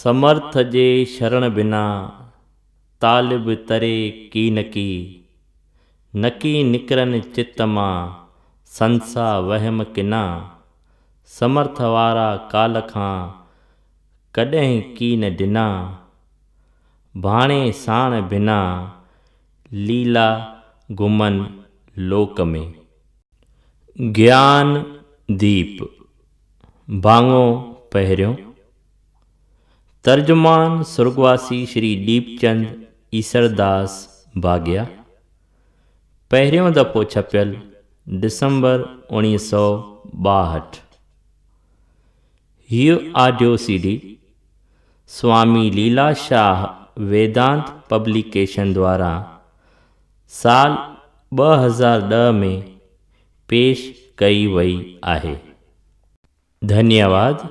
سمرٿ جي شرڻ بنا، طالب تري ڪي نه ڪي. نڪي نڪرن چت مان، سنسا وهم ڪنا. سمرٿ وارا ڪال کان، ڪڏهن ڪي نه ڊنا. ڀاڻي ساڻ بنا، ليلا گهمن لوڪ ۾. گيان ديپ، ڀاڱو پهريون. ترجمان سرڳواسي شري ڏيپچند ايسرداس ڀاڳيا پهريون دفعو ڇپيل ڊسمبر اوڻيهه سؤ ٻاهٺ هيء audio C D Swami Leela Shah Vedant publication دواران سال ٻه هزار ڏهه ۾ پيش ڪئي وئي آهي. ڌنيواد.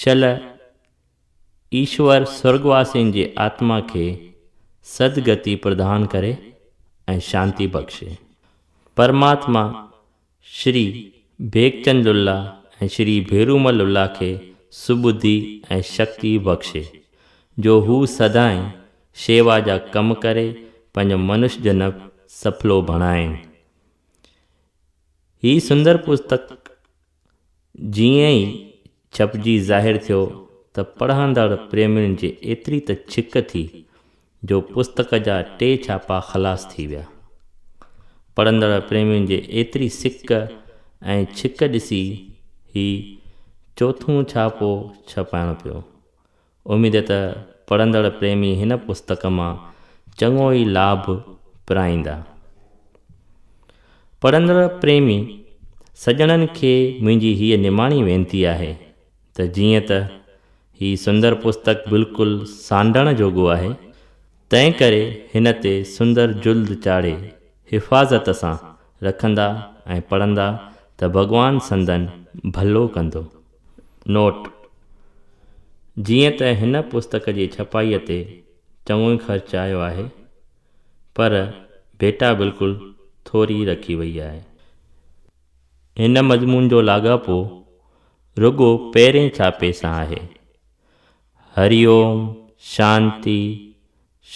شل، ايشور سرڳواسين جي آتما کي سد گتي پردان ڪري ۽ شانتي بخشي. پرماتما شري ڀيڪچند لله ۽ شري ڀيرومل لله کي سٻڌي ۽ شڪتي بخشي، جو هو سدائين شيوا جا ڪم ڪري پنهنجو منش جنم سڦلو بڻائين. هي سندر پستڪ جيئن ئي ڇپجي ظاهر ٿيو ته پڙهندڙ پريمين جي ايتري ته ڇڪ ٿي جو پستڪ جا ٽي ڇاپا خلاص ٿي ويا. پڙهندڙ پريمين جي ايتري سڪ ۽ ڇڪ ڏسي هي چوٿون ڇاپو ڇپائڻ پيو. اميد ته پڙهندڙ پريمي هن پستڪ مان چڱو ئي لاڀ پرائيندا. پڙهندڙ پريمي سڄڻن کي منهنجي هيء نماڻي وينتي آهي ته جيئن ته هي سندر پستڪ بلڪل سانڍڻ جوڳو آهي، تنهنڪري هن تي سندر جلد چاڙهي حفاظت سان رکندا ۽ پڙهندا ته ڀڳوان سندن ڀلو ڪندو. نوٽ، جيئن ته هن پستڪ جي ڇپائيء تي چڱو ئي خرچ آيو آهي، پر ڀيٽا بلڪل ٿوري رکي وئي آهي. هن مضمون جو لاڳاپو رڳو پهرئين ڇاپي سان آهي. هري اوم، شانتي،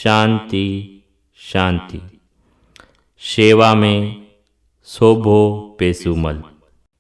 شانتي، شانتي. شيوا ۾ سوڀو پيسومل.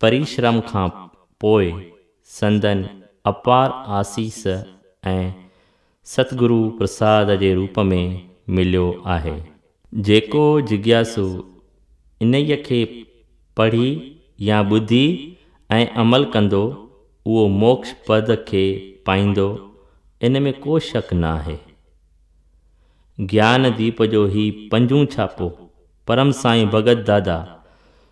پريشرم کان پوء سندن اپار آسيس ۽ ستگرو پرساد جي روپ ۾ مليو آهي. جيڪو جگياسو انهيء کي پڙهي يا ٻڌي ۽ عمل ڪندو، اهو موڪش پد کي پائيندو، ان ۾ ڪو شڪ ناهي. گيان ديپ جو هي پنجون ڇاپو پرم سائين ڀڳت دادا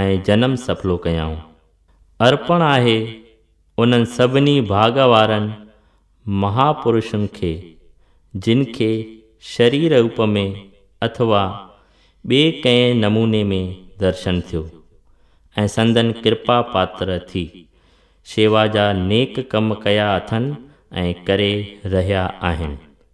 ۽ جنم سڦلو ڪيائون. ارپڻ آهي انهن سڀني ڀاڳ وارن مهاپرشن کي، جن کي شرير روپ ۾ اٿوا ٻئي ڪنهن نموني ۾ درشن ٿيو ۽ سندن ڪرپا پاتر ٿي، شيوا جا نيڪ ڪم ڪيا اٿن ۽ ڪري رهيا آهن.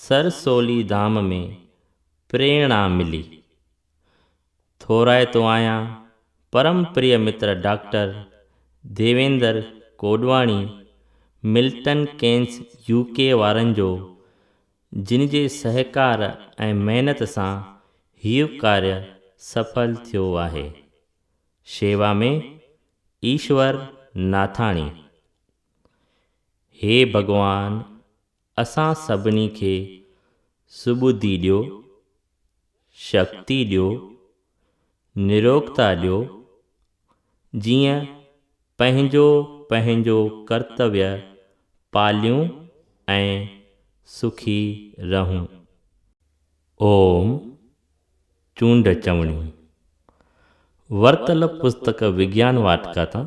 سر سولي ڌام ۾ پريڻا ملي. ٿورائتو آهيان پرم پريه متر doctor Devender Kodwani Milton Keynes U K وارن جو جن جي سهڪار ۽ محنت سان هيء ڪاري سڦل ٿيو آهي. شيوا ۾ ايشور ناٿاڻي. هي ڀڳوان! اسان سڀني کي سٻڌي ڏيو، شڪتي ڏيو، نروڳتا ڏيو، جيئن پنهنجو پنهنجو ڪرتويه پاليون ۽ سکي رهون. اوم چونڊ چوڻيون ورتل پستڪ وگيان واٽڪا تان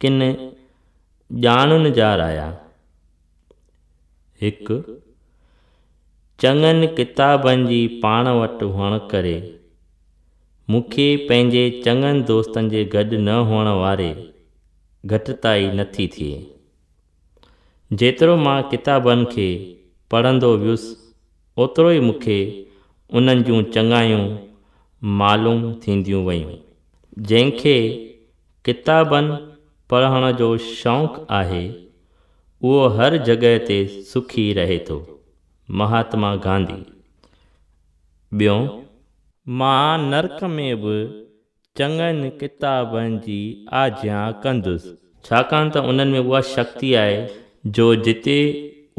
ڪن ڄاڻن جا رايا، هڪ، چڱن ڪتابن جي پاڻ وٽ هئڻ ڪري، مون کي پنهنجي چڱن دوستن جي گڏ نه هئڻ واري گهٽتائي نه ٿي ٿئي. جيترو مان ڪتابن کي پڙهندو ويس، اوترو ئي مون کي انهن جون چڱايون معلوم ٿينديون ويون، جنهن کي ڪتابن پڙهڻ جو شوق آهي، اهو هر جڳهه تي سکي رهي ٿو. مهاتما گانڌي. ٻيون. مان نرڪ ۾ به چڱن ڪتابن جي آجيان ڪندس. ڇاڪاڻ ته انهن ۾ اها شڪتي آهي جو جتي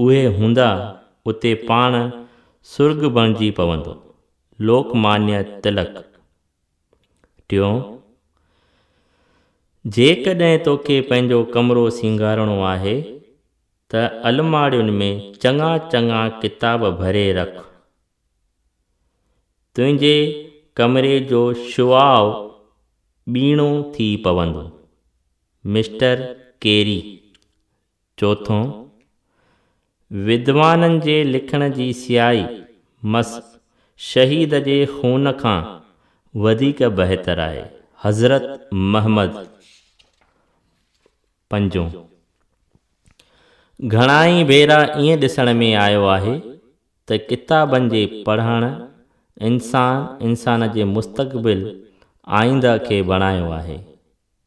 اهي هوندا، اتي پاڻ سرڳ بڻجي پوندو. لوڪ مانيا تلڪ. ٽيون، جيڪڏهن توکي پنهنجو ڪمرو سينگارڻو آهي ته الماڙين ۾ چڱا چڱا ڪتاب ڀري رک. تنهنجي ڪمري جو شعاع ٻيڻو ٿي پوندو. مسٽر ڪيري. چوٿون، ودوانن جي لکڻ جي سيائي مس شهيد جي خون کان وڌيڪ بهتر آهي. حضرت محمد. پنجون، گهڻائي ڀيرا ائين ڏسڻ ۾ آيو آهي ته ڪتابن جي پڙهڻ انسان انسان جي مستقبل، آئينده، کي بڻايو آهي.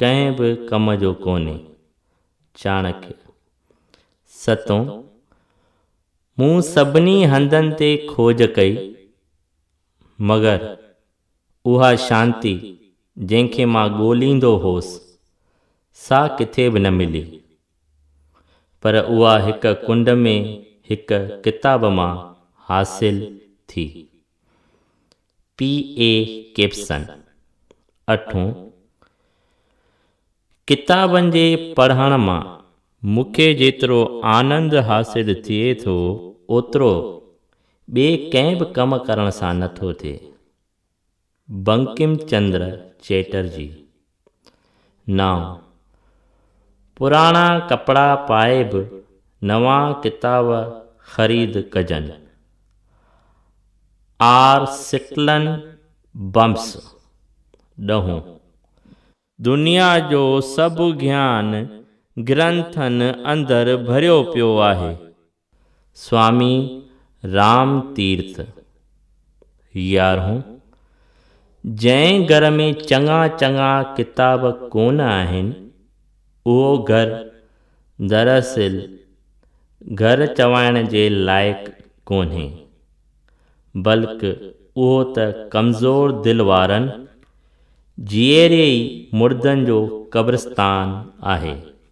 ڪنهن به ڪم جو ڪونهي. چاڻڪيا، ستون، مون سڀني هنڌن تي کوج ڪئي، مگر اها شانتي جنهن کي مان ڳوليندو هوس، سا ڪٿي به نه ملي. پر اها هڪ ڪنڊ ۾ هڪ ڪتاب مان حاصل ٿي. پي اي ڪيپسن اٺون، ڪتابن جي پڙهڻ مان مون کي جيترو آنند حاصل ٿئي ٿو اوترو ٻئي ڪنهن به ڪم ڪرڻ سان نه ٿو ٿئي. بنڪم چندر چيٽرجي. نانء. پراڻا ڪپڙا پائي به نوان ڪتاب خريد ڪجن. آر سٽلن بمس. ڏهون. دنيا جو سڀ گيان گرنٿن اندر ڀريو پيو آهي. سوامي رام تيرٿ، يارهون، جنهن گهر ۾ چڱا چڱا ڪتاب ڪونه آهن، اهو گهر دراصل گهر چوائڻ جي لائق ڪونهي، بلڪ اهو ته ڪمزور دل وارن، جيئري ئي مردن جو قبرستان آهي.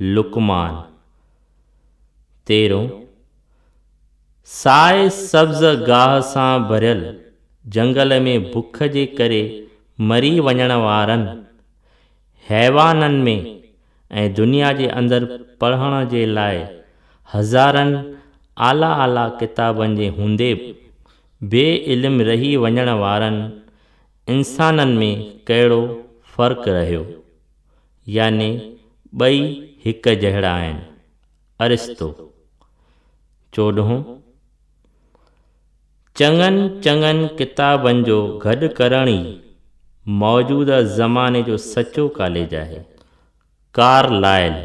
لقمان، تيرهون، سائي سبز گاهه سان ڀريل جهنگل ۾ بک جي ڪري مري وڃڻ وارن حيوانن ۾ ۽ دنيا جي اندر پڙهڻ جي لاء هزارن اعليٰ اعليٰ ڪتابن جي هوندي به بي علم رهي وڃڻ وارن انسانن ۾ ڪهڙو فرق رهيو؟ يعني ٻئي هڪ جهڙا آهن. ارسطو. چوڏهون. چڱن چڱن ڪتابن جو گڏ ڪرڻ ئي موجوده زماني جو سچو ڪاليج آهي. ڪارلائل.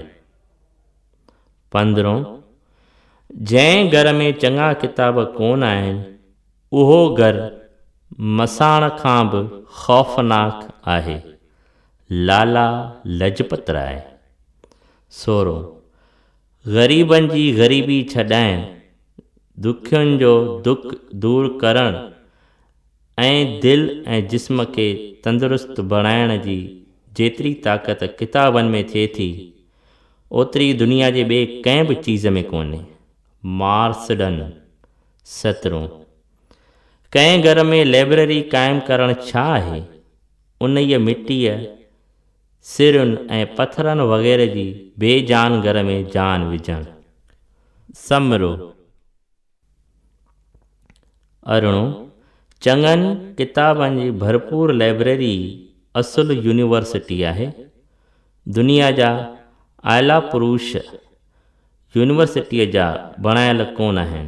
پندرهون. جنهن گهر ۾ چڱا ڪتاب ڪون آهن، اهو گهر مساڻ کان به خوفناڪ آهي. لالا لجپت راء. سورو، غريبن جي غريبي ڇڏائڻ، دکين جو دک دور ڪرڻ ۽ دل ۽ جسم کي تندرست بڻائڻ جي جيتري طاقت ڪتابن ۾ ٿئي ٿي، اوتري دنيا جي ٻي ڪنهن به چيز ۾ ڪونهي. مارسڊن، سترون، ڪنهن گهر ۾ لئبرري قائم ڪرڻ ڇا آهي؟ انهيء مٽيء، سرن ۽ پٿرن وغيره جي بي جان گهر ۾ جان وجهڻ. سمرو، ارڙهون، چڱن ڪتابن جي ڀرپور لئبرري ئي اصل يونيورسٽي آهي. دنيا جا اعليٰ پروش يونيورسٽيء جا بڻايل ڪونه آهن.